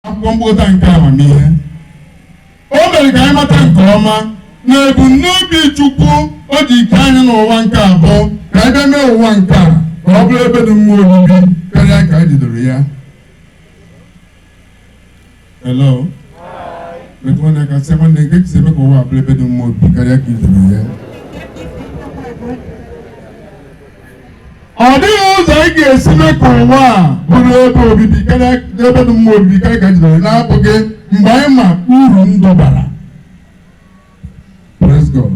akwụkwọ mkpokọta nke amamihe o mere ka anyị mata nke ọma na ebumnobi chukwu o ji kee anyị n'ụwa nke a bụ ka anyị bịa mee ụwa nke a ka ọ bụrụ ebe dị mma obibi karịa ka anyị jidoro ya Hello? Metụ nwanne aka sị nwanne nke si eme ka ụwa a bụrụ ebe dị mma obibi karịa ka ị jidoro ya ọ dịghị ụzọ ị ga-esi mee ka ụwa a bụrụ ebe obibi karịa ebe dị mma obibi karịa ka jidoro na-abụghị mgbe anyị ma uru ndụ bara Praise God.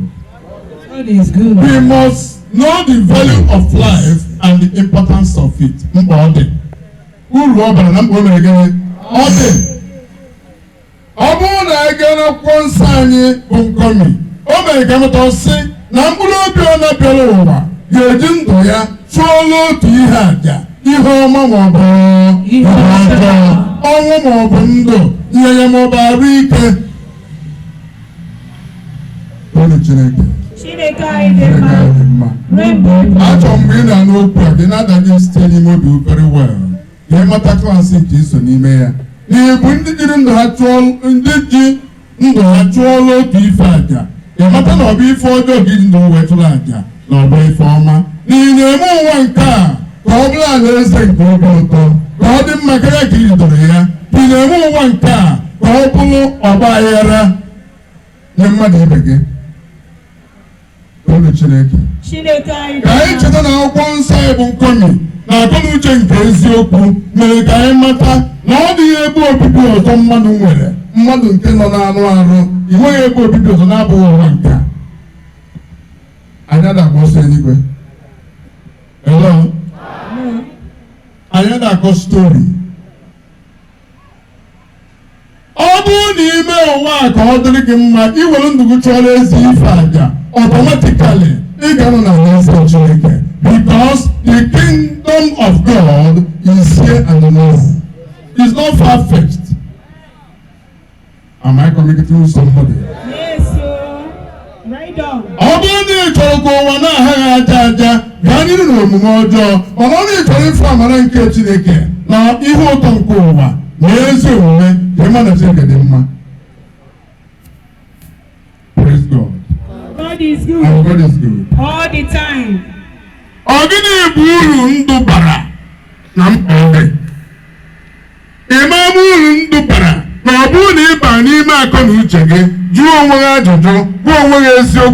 God is good. We must know the value of life and the importance of it. Mkpa ọ dị. Uru ọ bara na mkpa o mere gịnị? Ọ dị. Ọ bụrụ na anyị gaa n'akwụkwọ nsọ anyị bụ Nkomi, o mere ka mụta sị na mkpụrụ obi ọ bụna bịara ụwa ga-eji ndụ ya chụọla otu ihe aja ihe ọma ma ọ bụ ihe ọjọọ ọnwụ ma ọ bụ ndụ nrịanrịa ma ọ bụ arụ ike toonụ Chineke Chineke anyị dị Chineke mma anyị dị mma ruo mgbe ebighị achọrọ m mgbe ị na-anụ okwu a gị na-adanye site n'ime obi very well ka ị mata klaasị nke i so n'ime ya na ị bụ ndị jiri ndụ ha chụọ ndị ji ndụ ha chụọla otu ife aja ị mata na ọ bụ ife ọjọọ ka i ji ndụ wee chụrụ aja na ọ bụ ife ọma na ị na-eme ụwa nke a ka ọ bụrụ alaeze nke obi ụtọ ka ọ dị mma karịa ka i jidoro ya ị na-eme ụwa nke a ka ọ bụrụ ọgba aghara nye mmadụ ibe gị Toonụ Chineke. Chineke anyị dị mma. Ka anyị cheta na akwụkwọ nsọ anyị bụ Nkomi na akọnuche nke eziokwu mere ka anyị mata na ọ dịghị ebe obibi ọzọ mmadụ nwere mmadụ nke nọ n'anụ arụ i nweghị ebe obibi ọzọ na-abụghị ụwa nke a. anyị ada agba ọsọ eluigwe Hello? anyị ada akọ stori ọ bụrụ na i mee ụwa a ka ọ dịrị gị mma i were ndụ gị chụọra ezi ife aja automatically ị ga-anọ na alaeze Chineke because the kingdom of God is here and now is not far fetched am I communicating with somebody? ọ bụrụ na ị chọrọ ka ụwa na-agha gị aja aja gaa n'iru na omume ọjọọ mana ọ na ị chọrọ ịfụ amara nke chineke na ihe ụtọ nke ụwa na ezi omume ka ị ma na chineke dị mma Praise God. God is good. Our God is good. all the time. Ọ gịnị bụ uru ndụ bara na mkpa ọ dị? Ị ma ama uru ndụ bara na ọ bụrụ na ị baa n'ime akọ na uche gị, jụọ onwe gị ajụjụ, gwa onwe gị eziokwu.